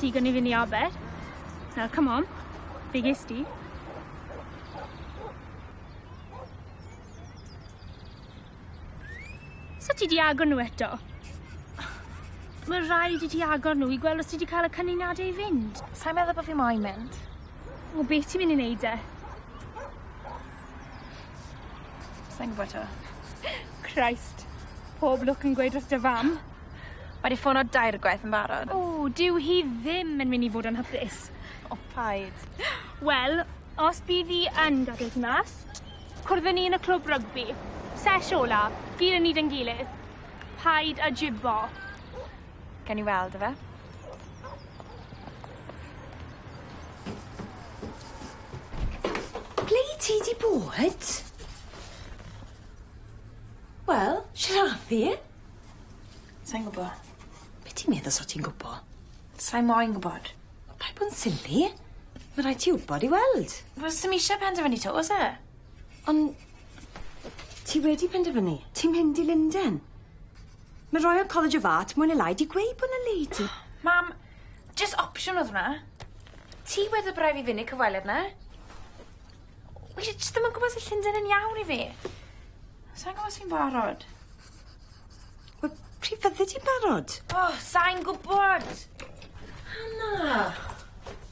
Digon i fyny aber. Now come on. Be ges di? So ti di agor nhw eto? Mae rhaid i ti agor nhw i gweld os ti di cael y cynuniadau i fynd. Sa'n meddwl bod fi moyn mynd. O, beth ti'n mynd i wneud e? Sai'n gwbo 'to. Christ. Pob lwc yn gweud wrth dy fam. Mae 'di ffono dair gwaith yn barod. O dyw hi ddim yn myn' i fod yn hapus. O paid. Wel os bydd 'i yn gadel ti mas cwrdd â ni yn y clwb rygbi. Sesh ola, gyd o ni 'da'n gilydd. Paid â jibo. Gawn ni weld yfe? Ble i ti di bod? Wel, siaraddu. Sai'n gwbo. Be' ti'n meddwl sa ti'n gwbo? Sai moyn gwbod. Paid bo'n silly. Ma' raid ti wbod i weld. Wel sim isie penderfynu 'to o's e? On' ti wedi penderfynu. Ti'n mynd i Lunden. Ma' Royal College of Art mwy ne' lai 'di gweud bo' 'na le i ti. Mam! Jyst opsiwn odd hwnna. Ti wed y braidd fi fyn' i'r cyfweliad na? Wi jy- jyst ddim yn gwbo os yw Llunden yn iawn i fi. Sai'n gwbo os fi'n barod. Wel pryd fyddi di'n barod? O sai'n gwbod. Anna!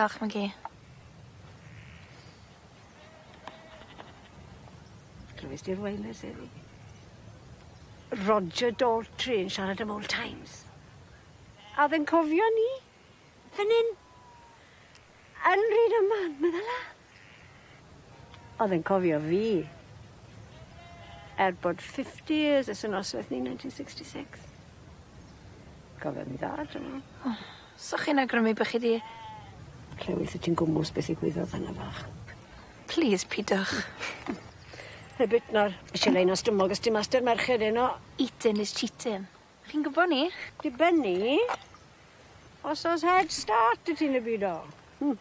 Diolch Maggie. Clywes di'r weiners heddi? Roger Daltrey yn siarad am old times. A oedd e'n cofio ni? Fyn 'yn. Yn Rydaman, medda la. O'dd e'n cofio fi. Er bod fifty years ers y nosweth ni ninety sixty six. Cofio fi dda dwi me'wl. O. So chi'n awgrymu bo' chi 'di... Lle wt ti'n gwmws beth ddigwyddodd fan 'na fach. Plîs pidwch. Heb idno'r shileni o stumog os 'di master merched heno. Eatin' is cheatin'. Chi'n gwbo 'ny. Diben 'ny. Os o's head start 'dy ti yn y byd o. Hmm.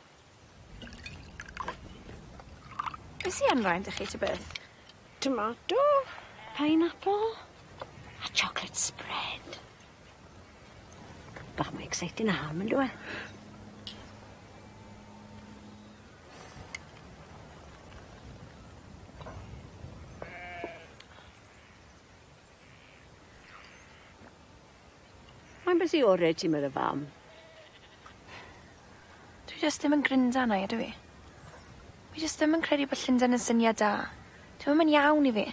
Be' sy ar 'mlaen 'da chi ta beth? Tomato. Pineapple. A chocolate spread. Bach mwy exciting na ham yndyw e? Mae'n busy ore ti medda fam. Dwi jyst ddim yn grinda arna i ydw i? Fi jyst ddim yn credu bod Llunden yn syniad da. Dyw e ddim yn iawn i fi.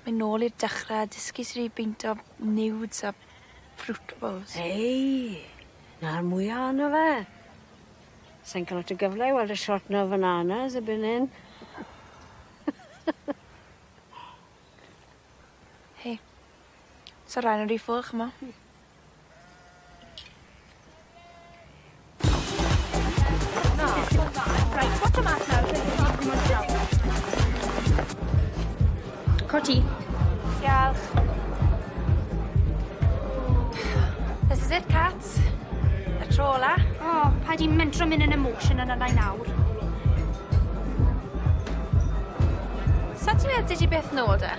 Myn nôl i'r dechre a dysgu sud i beinto nudes a fruit bowls. Ei! Na'r mwya ono fe. Sai'n ca'l lot o gyfle i weld y shot na fananas erbyn hyn. Hei. Sa rain yn ry full ch'mo'? Hmm. Cot ti. Diolch. This is it Cats. Y tro ola. O, oh, pa di mentro mynd yn emotion yna nai nawr. Sa ti'n meddwl ti beth nôl de?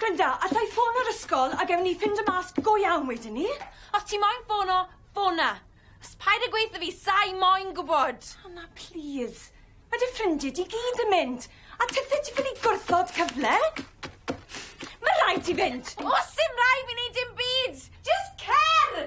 Glynda, alla i ffono'r ysgol a gewn ni ffindo mas go iawn wedyn 'ny. Os ti moyn ffono, ffona. Js paid a gweutho fi sai moyn gwbod! Anna, plîs. Ma' dy ffrindie di gyd yn mynd. A tithe ti ffili gwrthod cyfle? Ma' raid ti fynd! O's dim raid fi neud dim byd! Js cer!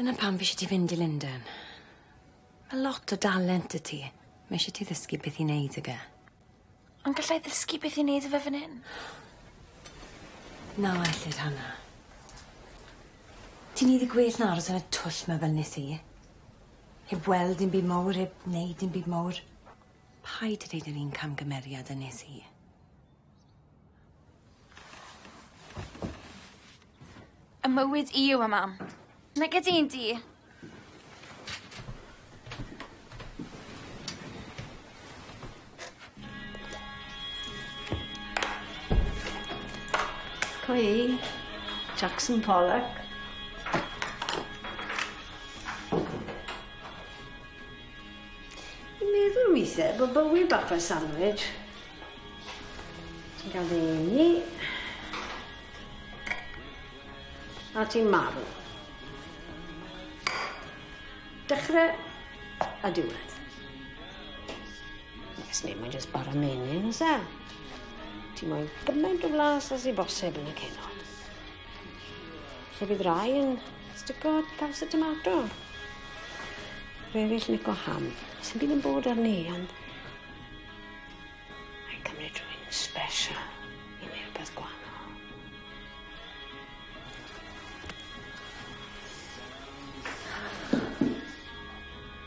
Dyna pam fi isie ti fynd i Lunden. Ma' lot o dalent 'dy ti. Ma' isie ti ddysgu beth i neud ag e. Ond gallai ddysgu beth i neud â fe fyn 'yn. Na ellid Hannah. Ti'n neud yn gwell na aros yn y twll 'ma fel nes i. Heb weld dim byd mowr heb neud dim byd mowr. Paid â deud yr un camgymeriad a nes i. Y mywyd i yw e, mam. Nag ydi un di. Cwi. Jackson Pollock. I'n meddwl weithie bod bywyd bach fel sandwich. Ti'n cael dy eni. A ti'n marw. Dechrau a diwedd. Nes ni, mae'n jyst bara menyn, oes e? Ti moyn gymaint o flas as i bosib yn y ceno. Lle bydd rai yn stico caws y tomato. Rhai eraill lico ham. Sy'n bydd yn bod ar ni, ond... Mae'n cymryd rhywun yn sbesial i neud rwbeth gwanol.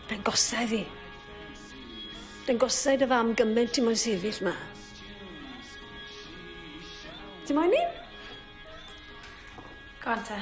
Mae'n gosa i fi. Mae'n gosa i dy fam gyment ti moyn sefyll 'ma. Ti moyn 'i? Go on te.